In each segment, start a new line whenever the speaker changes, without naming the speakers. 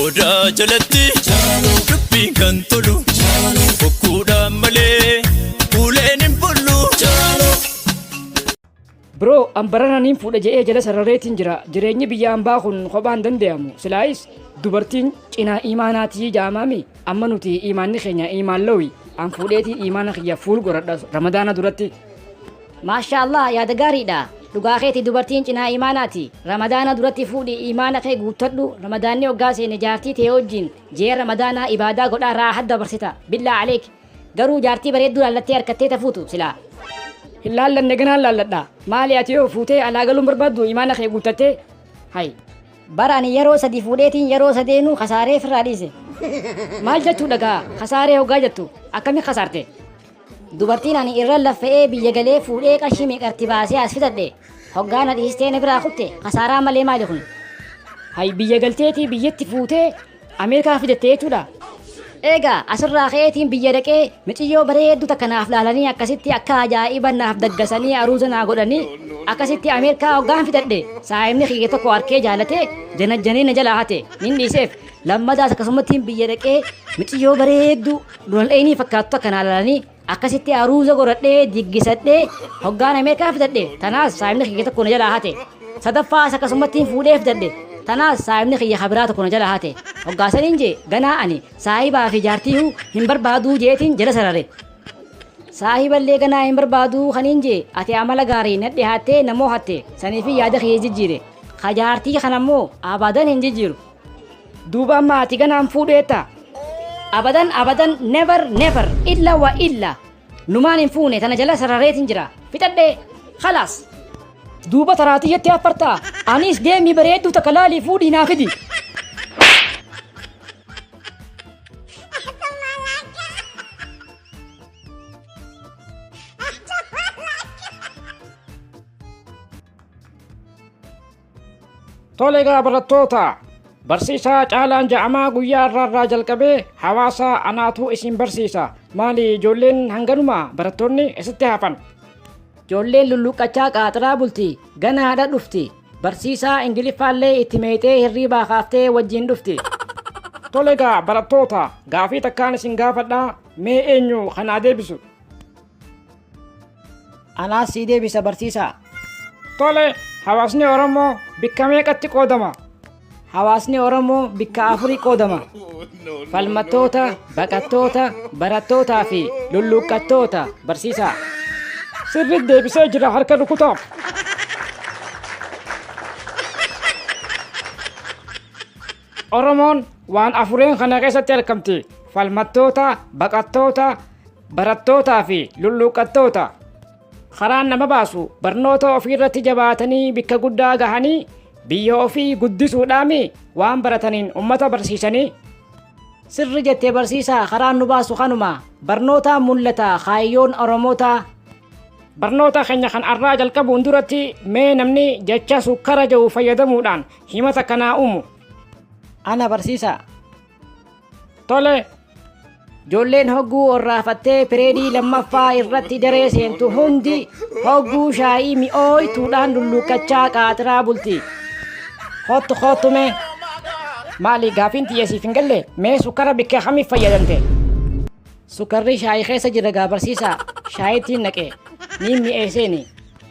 Odaa jalatti dubbiin kan tolu bokkuudhaan malee kuuleen hin bullu.
Bro, an barana niin fuudha je'ee jala sarrareetiin jira. Jireenyi biyya ambaa kun kophaan danda'amu. Silaayis dubartiin cinaa imaanaatii jaamaami. Amma nuti imaanni keenya imaan lawi. An fuudheetii imaana kiyya fuul godhadha ramadaana duratti. Maashaa
Allaah yaada gaariidha. Dhugaa keeti dubartiin cinaa iimaanaati. Ramadaana duratti fuudhi iimaana kee guuttadhu ramadaanni hoggaa seene jaartii tee wajjiin ji'a ramadaanaa ibaadaa godhaa raahat dabarsita. Billaa aleek. Garuu jaartii bareedduu laallattee arkattee ta fuutu silaa. Hin laallanne
ganaan laalladha. Maali ati yoo fuutee alaa galuu hin barbaaddu iimaana kee guuttattee? Hay. Bar ani
yeroo sadii fuudheetiin yeroo sadeenuu kasaaree firraa dhiise. Maal
jechuudha gaa kasaaree hoggaa jettu akkami kasaarte? Dubartiin
ani irra laffa'ee biyya galee fuudhee qarshii meeqatti baasee as fidadhe hoggaa na dhiistee na biraa kutte kasaaraa malee maali kun. Hay biyya
galteetii biyyatti fuutee Ameerikaa fidatte jechuudha. Eegaa
asirraa ka'eetiin biyya dhaqee miciyyoo bareedduu takka naaf laalanii akkasitti akka ajaa'iba naaf daggasanii aruuza naa godhanii akkasitti Ameerikaa hoggaan fidadhe saayimni kiyya tokko harkee jaalatee janajjanee na jalaa hate nin dhiiseef lammadaas akkasumatti biyya dhaqee miciyyoo bareedduu Donald Eynii fakkaattota kanaa lalanii akkasitti aruuza godhadhee diggisadhee hoggaan Ameerikaa fidadhe tanaas saahibni kiyya tokko na jalaa hate. Sadaffaas akkasummattiin fuudhee fidadhe tanaas saahibni kiyya habiraa tokko na jalaa hate. Hoggaasaniin jee ganaa ani saahibaa fi jaartiihuu hin barbaaduu jeetiin jala sarare. Saahiballee ganaa hin barbaaduu kaniin jee ati amala gaarii nadhi haattee namoo hatte saniifii yaada kiyya jijjiire. Ka jaartii kanammoo abadan hin jijjiiru. duuba
amma ati ganaan fuudheetta abadan
abadan never never illa wa illa numaan hin fuune tana jala sarareetin jira fixadhee khalaas duuba
taraatii jettee affartaa anis deemii bareedduu takka laalii fuudhii naa fidi Tole egaa barattoota barsiisaa caalaan ja'amaa guyyaa irraa irraa jalqabee hawaasa anaatu isin barsiisa maali ijoolleen hanganuma barattoonni isitti hafan Ijoolleen
lulluqqachaa qaaxiraa bulti gana haadha dhufti barsiisaa ingiliffaallee itti meexee hirriibaa kaaftee wajjin dhufti. Tole
egaa barattoota gaafii takkaan isin gaafadhaa mee eenyu kanaa deebisu
Anaas sii deebisa barsiisaa. Tole,
hawaasni Oromoo bikka meeqatti qoodama? Hawaasni
Oromoo bikka afurii qoodama. Falmattoota, baqattoota, barattootaa fi lulluuqqattoota barsiisaa. Sirriitti
deebisee jira harka rukutaa. Oromoon waan afureen kana keessatti argamti. Falmattoota, baqattoota, barattootaa fi lulluuqqattoota. Karaan nama baasu barnoota ofiirratti jabaatanii bikka guddaa gahanii biyya ofii guddisuudhaami waan barataniin ummata barsiisanii. Sirri
jette barsiisaa karaan nu baasu kanuma barnootaan mul'ata kaayyoon Oromootaa. Barnoota
keenya kan arraa jalqabuun duratti mee namni jecha sukkara jedhu fayyadamuudhaan Himata kanaa uumu. Ana
barsiisaa.
Tole.
Ijoolleen hogguu orraafattee pireedii lammaffaa irratti daree seentu hundi hogguu shaayii mi'ooytuudhaan lulluuqqachaa qaatiraa bulti. Hoottu
hoottu mee. Maali gaafiin tiyya siif hin galle mee sukkara bikka kamiif fayyadamte?
Sukkarri shaayii keessa jira gaa barsiisaa. Shaayittiin naqe. Niin mi'eesseeni.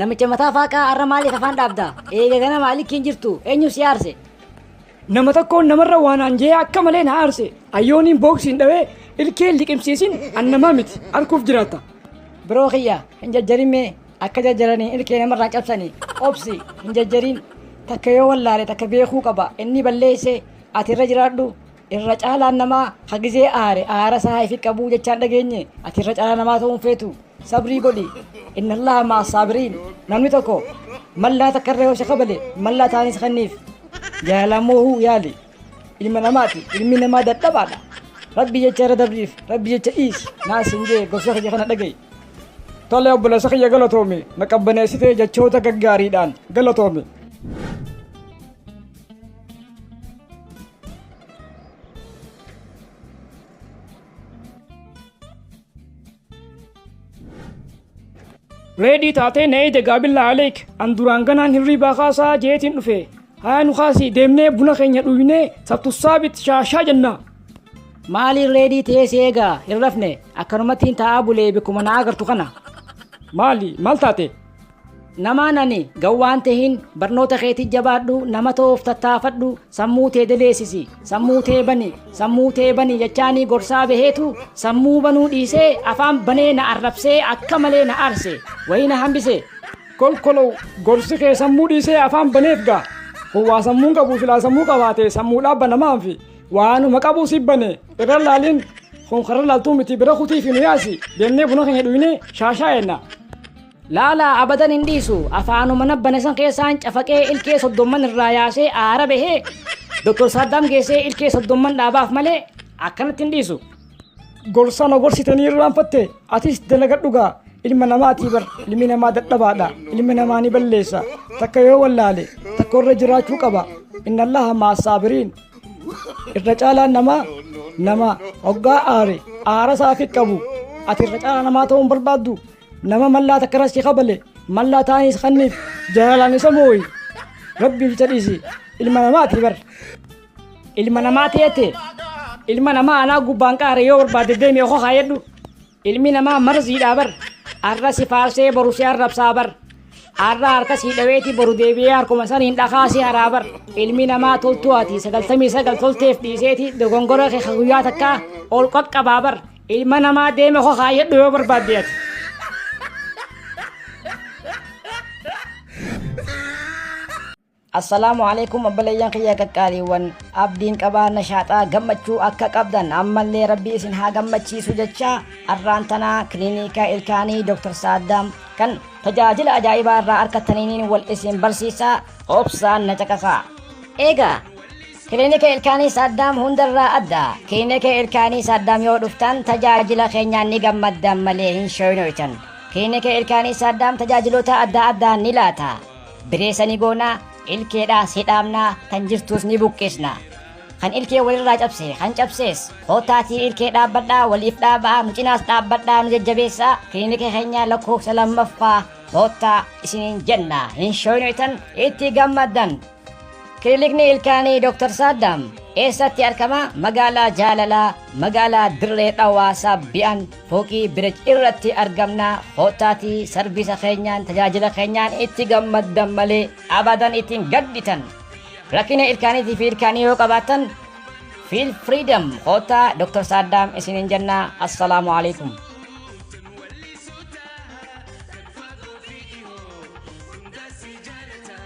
Namicha mataa faaqaa har'a maaliif afaan dhaabda? Eega ganama alikki hin jirtu. Eenyu si aarse? Nama
tokkoon namarra waan aanjee akka malee na aarse. Ayyooniin booksiin dhawee ilkeen liqimsiisin an namaa miti. Arguuf jiraatta. Biroo kiyya
hin jajjarin mee akka jajjaranii ilkee namarraa cabsanii obsi hin jajjarin takka yoo wallaale takka beekuu qaba inni balleessee ati irra jiraadhu Irra caalaan namaa ha gizee aare aara isaa haa ifi qabuu jechaan dhageenye ati irra caalaa namaa ta'uu hin feetu sabrii godhi inna allaha ma'a saabiriin namni tokko mallaa takka irra yoo si kabale mallaa taanis kenniif jaalalaan moohuu yaali ilma namaati ilmi namaa dadhabaadha rabbi jecha irra dabriif rabbi jecha dhiisi naa sin jee gorsa kiyya kana dhaga'i Tole
obboleessa kiyya galatoomi na qabbaneessitee jechoota gaggaariidhaan galatoomi. reedii taatee na eeyde gaabillaa aleek an duraan ganaan hirriibaa kaasaa jeetiin dhufe haa nu kaasii deemnee buna keenya dhugnee sattussaabit shaashaa jennaa maaliin
reedii ta'ee si eegaa hin rafne akkanumattiin taa'aa bulee bakkuma na agartu kana maali
maal taate Namaa
nani gawwaan tehin barnoota keetii jabaadhu nama ta'uuf tattaafadhu sammuu tee deleessisi sammuu tee bani sammuu tee bani jechaanii gorsaa baheetu sammuu banuu dhiisee afaan banee na arrabsee akka malee na arse wayii na hambise kolkolow
gorsi kee sammuu dhiisee afaan baneef gaa kun waa sammuun qabu silaa sammuu qabaate sammuu dhaabba namaan fi waanuma qabuu si bane irra laaliin kun karra laaltuu miti bira kutii fi nu yaasi deemnee buna keenya dhuynee shaashaa enna Laalaa
abadan hin dhiisu afaanuma na bane san keessaan cafaqee ilkee soddomman irraa yaasee aara bahee Dr. Saaddaam geessee ilkee soddomman dhaabaaf malee akkanatti hin dhiisu. Gorsa na
gorsitanii irraanfatte atis dalagadhu gaa ilma namaatii bar ilmi namaa dadhabaadha ilmi namaa ni balleessa takka yoo wallaale takka irra jiraachuu qaba inna allaha ma'a saabiriin irra caalaan namaa nama hoggaa aare aara isaa fi qabu ati irra caalaa namaa ta'uu hin barbaaddu nama mallaa takka irra si kabale mallaa taa'anii si kanniif jaalalaan isa mooyi rabbii jecha dhiisi ilma namaati bar ilma
namaa teete ilma namaa anaa gubbaan qaare yoo barbaade deemee koo kaayadhu ilmi namaa marziidhaa bar arra si faarsee boru si arrabsaa bar arra harka si dhaweeti boru deebi'ee harkuma saniin dhakaa si haraa bar ilmi namaa toltuu ati sagaltamii sagal tolteef dhiiseeti dogongora kee ka guyyaa takkaa ol qaqqabaa bar Ilma namaa deeme koo kaayyadhu yoo barbaadde ati. Assalaamu alaikum abbaleeyyan kiyya qaqqaaliiwwan abdiin qabaa nashaaxaa gammachuu akka qabdan ammallee rabbii isin haa gammachiisu jecha arraan tanaa kilinika ilkaanii Dr. Saaddaam kan tajaajila ajaa'ibaa irraa argattaniin wal isin barsiisaa obsaan na caqasaa. Eegaa Kilinika Ilkaanii Saaddaam hundarraa adda. Kilinika Ilkaanii Saaddaam yoo dhuftan tajaajila keenyaan ni gammaddan malee hin shooynoytan. Kilinika Ilkaanii Saaddaam tajaajiloota adda addaa ni laata. Bireesa ni goona, ilkeedhaas hidhaamna, tan jirtuus ni buqqisna. Kan ilkee walirraa cabse, kan cabsees kootaatii ilkee dhaabbadhaa, waliif dhaabaa, nu cinaas dhaabbadhaa, nu jajjabeessaa. Kilinika keenya lakkoofsa lammaffaa koottaa isiniin jenna. Hin shooynoytan, itti gammaddan. Kilinikni ilkaanii Dr. Saaddaam eessatti argama? Magaalaa Jaalalaa, magaalaa Dirree Dhawaa Saabbi'an fooqii Birij irratti argamna. Koottaatii sarviisa keenyaan, tajaajila keenyaan itti gammaddan malee abadan itti hin gadditan. Rakkina ilkaaniitii fi ilkaanii yoo qabaattan Feel Freedom koottaa Dr. Saaddaam isiniin jenna. Assalaamu alaikum.